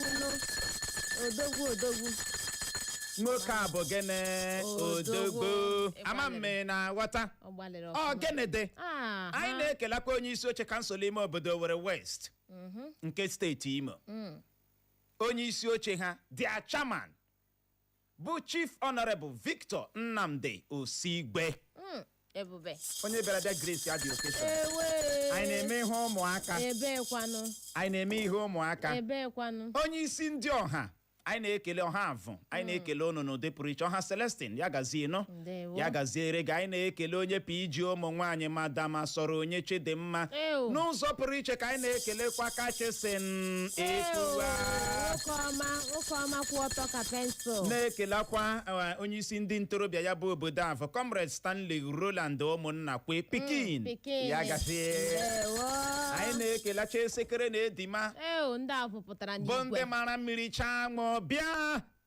nụ odogwu odogwu nwoke a bụ gịnị Odogwu. odogwu ama m ma ị na-aghọta ọ gbalịrị ọ ọfụma. gịnị dị Ah, anyị ha. na-ekelakwa onye isi oche kansụl ime obodo Owerri West nke steeti Imo onye isi oche ha their chairman bụ Chief Honorable Victor Nnamdi Osigwe Mm, ebube onye bịara bịa Grace adị okesha ewe anyị na-eme ihe ụmụaka ebekwanụ anyị na-eme ihe ụmụaka ebekwanụ onye isi ndị ọha anyị na-ekele ọha Avụ anyị na-ekele unu n'ụdị pụrụ iche ọha Celestine ya gazie nụ Ndewo. ya gaziere gị anyị na-ekele onye PG ụmụ nwaanyị Madam Asọrọnye Chidimma Ew. n'ụzọ pụrụ iche ka anyị na-ekelekwa kachisin etuwa nwoke ọma nwoke ọma kwụ ọtọ ka pensụl na-ekelekwa eh, onye isi ndị ntorobịa ya bụ obodo Avụ comrade Stanley Roland ụmụnna kwe pikin pikin. ya gazie Ndewo. anyị na-ekelecha esekere na edima Ew, ndị ahụ pụtara bụ ndị n'igwe mara mmiri chaa ṅụọ bịa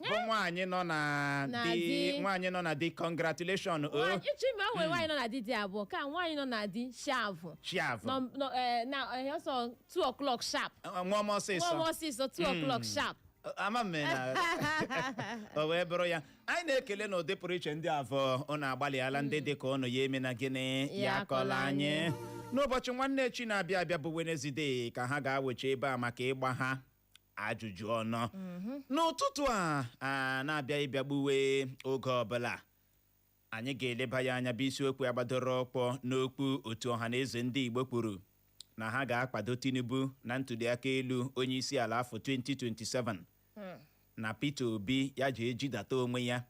bụ nwaanyị nọ na Na di di. nwaanyị nọ na di congratulation o Nwaanyị- ịchọ ime o nwere nwaanyị nọ na di dị abụọ ka nwaanyị nọ na di shavụ chiavụ nọ nọ eh, na eh, ọsọ 2 o'clock sharp nwa m nwa m ọsịsọ ọsịsọ 2 o'clock sharp ama m na o wee bụrụ ya anyị na-ekele na ụdị pụrụ iche ndị Avụ ụnụ agbalịala ndị dị ka ụnụ ya emena gịnị Ya ya akọla akọla anyị anyị. n'ụbọchị nwanne echi na-abịa abịa bụ wenezdee ka ha ga-awụcha ebe a maka ịgba ha ajụjụ ọnụ n'ụtụtụ a na-abịaghị ịbịa gbuwe oge ọbụla anyị ga-eleba ya anya bụ isiokwu a gbadoro ụkwụ n'okwu otu Ọhanaeze ndị Igbo kwuru na ha ga-akwado Tinubu na ntuliaka elu onye isi ala afọ 2027 na Peter Obi ya je jidata onwe ya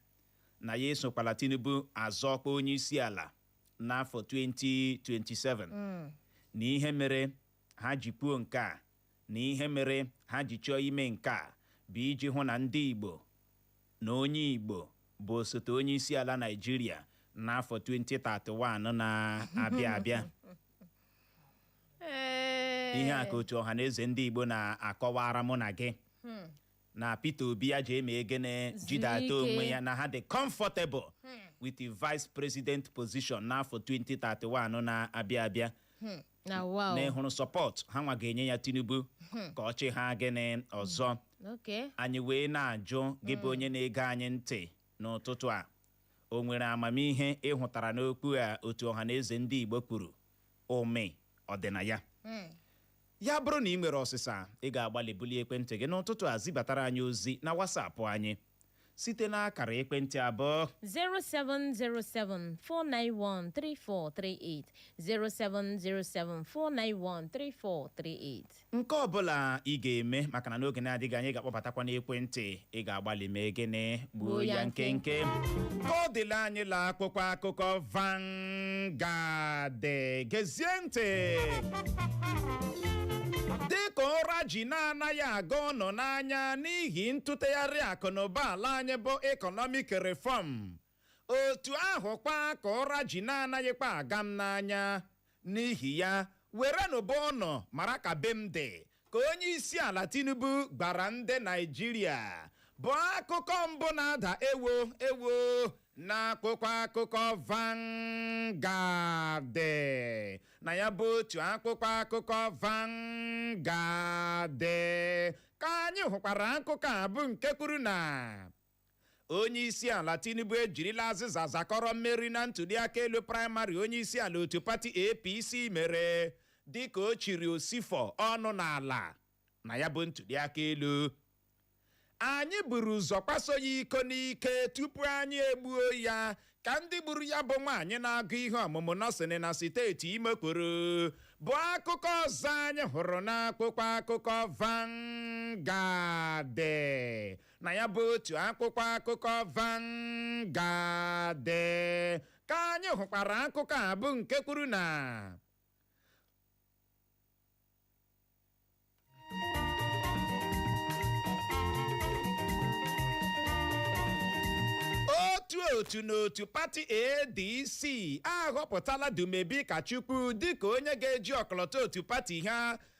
na ya esokwala Tinubu azọ ọkwa onye isi ala n'afọ 2027 na ihe mere ha ji kwuo nke a na ihe mere ha ji chọọ ime nke a bụ iji hụ na ndị Igbo na onye Igbo bụ osote onye isi ala Naịjirịa n'afọ 2031 na-abịa abịa ihe a ka otu Ọhanaeze ndị Igbo na-akọwara mụ na gị hmm. na Peter Obi ya je mee gịnị jidata onwe ya na ha dị comfortable hmm. with the vice president position n'afọ 2031 na-abịa abịa hmm. na wow na ị hụrụ support ha nwa ga-enye ya Tinubu ka ọ chịha gịnị ọzọ okay anyị wee na-ajụ gị bụ onye na-ege anyị ntị n'ụtụtụ a o nwere amamihe ị hụtara n'okwu a otu Ọhanaeze ndị Igbo kwuru ụmị ọ dị na ya Mm. ya bụrụ na ị nwere ọsịsa ị ga-agbalị bulie ekwentị gị n'ụtụtụ a zibatara anyị ozi na WhatsApp anyị site n'akara ekwentị abụọ 07074913438 07074913438 nke ọbụla ị ga-eme maka na n'oge na-adịghị anya ị ga-akpọbatakwa n'ekwentị ị ga-agbalị mee gịnị gbuo ya nkenke ka ọ dịla anyị la akwụkwọ akụkọ van Vanguard gezie ntị dịka ụra ji na-anaghị aga unu n'anya n'ihi ntụtegharị akụnụba ala anyị bụ economic reform otu ahụkwa ka ụra ji na-anaghịkwa aga m n'anya n'ihi ya werenụ be unu mara ka be m dị ka onye isi ala tinubu gwara ndị naijiria bụ akụkọ mbụ na-ada ewo ewo n'akwụkwọ akụkọ Vanguard na ya bụ otu akwụkwọ akụkọ Vanguard ka anyị hụkwara akụkọ a bụ nke kwuru na onye isi ala tinubu ejirila azịza zakọrọ mmeri na ntuliaka elu praịmarị onye isi ala otu pati apc mere dịka o chiri osifo ọnụ n'ala na ya bụ ntuliaka elu anyị buru ụzọ kwaso ya iko n'ike tupu anyị egbuo ya ka ndị gburu ya bụ nwaanyị na-agụ ihe ọmụmụ nọsịn na steeti imo kwuru bụ akụkọ ọzọ anyị hụrụ n'akwụkwọ akụkọ Vanguard na ya bụ otu akwụkwọ akụkọ Vanguard ka anyị hụkwara akụkọ a bụ nke kwuru na otu otu n'otu pati ADC ahọpụtala Dumebi Kachukwu dịka onye ga-eji ọkọlọtọ otu pati ha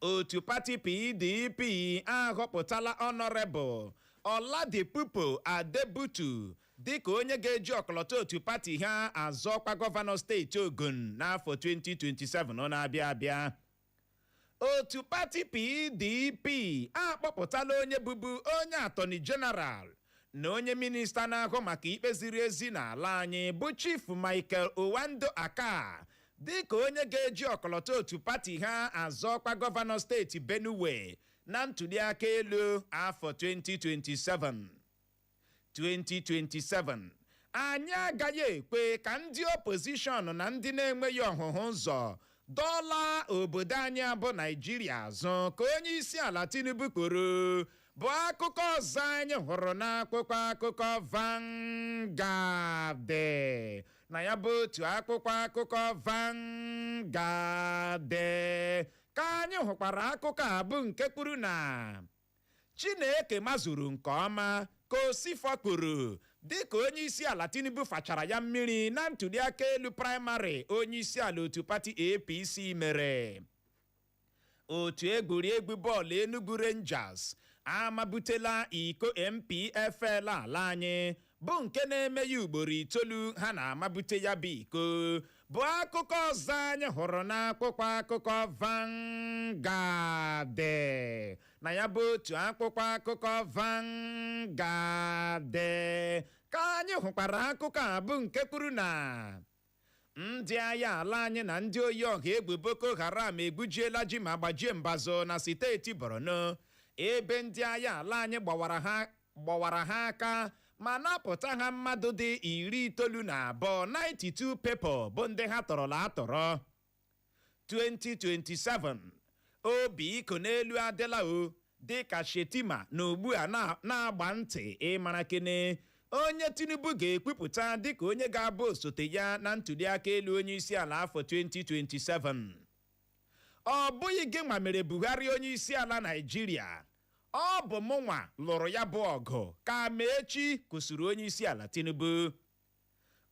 otu pati pdp ahọpụtala ọnọrebụl ọladipupo adebutu dịka onye ga-eji ọkọlọtọ otu pati ha azọ ọkwa gọvanọ steeti ogun n'afọ 2027 na-abịa abịa otu pati pdp akpọpụtala onye bụbu onye atọni jeneral na onye minista na-ahụ maka ikpe ziri ezi n'ala anyị bụ chief michael aondoakaa dịka onye ga-eji ọkọlọtọ otu pati ha azọ ọkwa gọvanọ steeti Benue na ntuliaka elu afọ 2027 2027 anyị agaghị ekwe ka ndị opozishọn na ndị na-enweghị ọhụhụ ụzọ dọla obodo anyị a bụ Naijiria azụ ka onye isi ala Tinubu kwuru bụ akụkọ ọzọ anyị hụrụ n'akwụkwọ akụkọ Vanguard na ya bụ otu akwụkwọ akụkọ Vanguard ka anyị hụkwara akụkọ a bụ nke kwuru na Chineke mazuru nke ọma ka Osifo kwuru dịka onye isi ala Tinubu fachara ya mmiri na ntuliaka elu praịmarị onye isi ala otu pati APC mere otu egwuregwu bọọlụ Enugu Rangers amabutela iko NPFL ala anyị bụ nke na-eme ya ugboro itoolu ha na-amabute ya bụ iko bụ akụkọ ọzọ anyị hụrụ n'akwụkwọ akụkọ Vanguard na ya bụ otu akwụkwọ akụkọ Vanguard ka anyị hụkwara akụkọ a bụ nke kwuru na ndị agha ala anyị na ndị oyi ọha egwu boko haram egbujiela ji ma gbajie mbazụ na steeti borno ebe ndị agha ala anyị gbawara ha aka ma napụta ha mmadụ dị iri itoolu na abụọ 92 people bụ ndị ha tọrọla atọrọ 2027 obi ịkọ n'elu adịla o dịka Shettima nọ ugbu a na-agba ntị ịmara kene onye Tinubu ga-ekwupụta dịka onye ga-abụ osote ya na ntuliaka elu onye isi ala afọ 2027 ọ bụghị gịnwa mere Buhari onye isi ala Naịjirịa ọ bụ mụnwa lụrụ ya bụ ọgụ ka Amaechi kwusiri onye isi ala Tinubu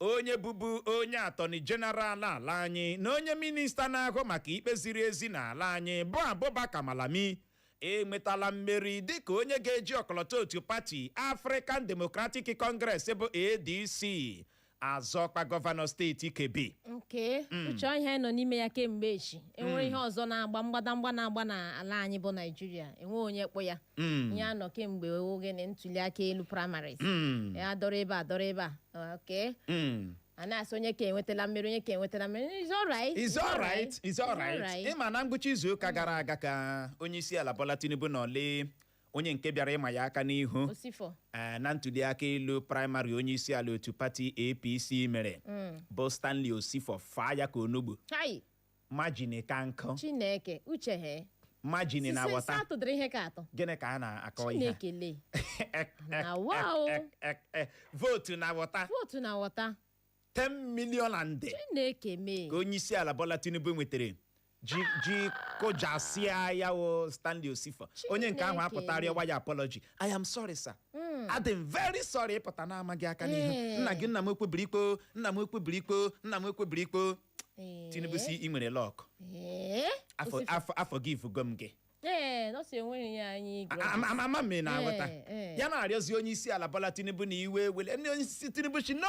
onye bụbu onye atọni jeneral ala anyị na onye minista na-ahụ maka ikpe ziri ezi n'ala anyị bụ Abubakar Malami enwetala mmeri dịka onye ga-eji ọkọlọtọ otu pati African Democratic Congress bụ ADC azọ ọkwa gọvanọ steeti Kebbi nke hmm. Uche ihe a nọ n'ime ya kemgbe echi enwere hmm. ihe ọzọ na-agba mgbadamgba na-agba n'ala anyị bụ Naijiria enwe onye kpụ ya Mm. ihe a nọ kemgbe oge na ntuli aka elu primaries Mm. ya dọrọ ebe a dọrọ ebe a okay Mm. a na-asị onye ka enwetala mmeri onye ka enwetala mmeri is alright It's all right. It's all right. ịma na ngwụcha izu ụka gara aga ka onye isi ala Bola Tinubu na ole onye nke bịara ịma ya aka n'ihu Osifo eh, na ntuli aka elu praịmarị onye isi ala otu pati APC mere bụ Stanley Osifo faa ya ka onugbu hai majini ka nkụ chineke uche he majini na wọta satụ dịrị ihe ka atọ gịnị ka a na-akọ ihe chineke lee na wa o Ek, ek, ek. vootu na wọta vootu na wọta 10 million and de chineke mee ka onye isi ala Bola Tinubu nwetara ji ji kụjasịa ya o Stanley Osifa onye nke ahụ Chineke. apụtara ya waya apology I am sorry sir adị m very sorry ịpụta na-amaghị aka n'ihu Ee. nna gị nna m ekwebiri ikpo nna m ekwebiri ikpo nna m ekwebiri ikpo Ee. tinubu sị ị nwere luck Ee. afọ Osifu- afọ a forgivego m gị Ee, nọọsụ enweghị ya anyị igwe. A- ama ama- ama m ị na-aghọta Ee, ee. ya na-arịọzi onye isi ala bola tinubu na iwe ewele ndị onye isi tinubu sị no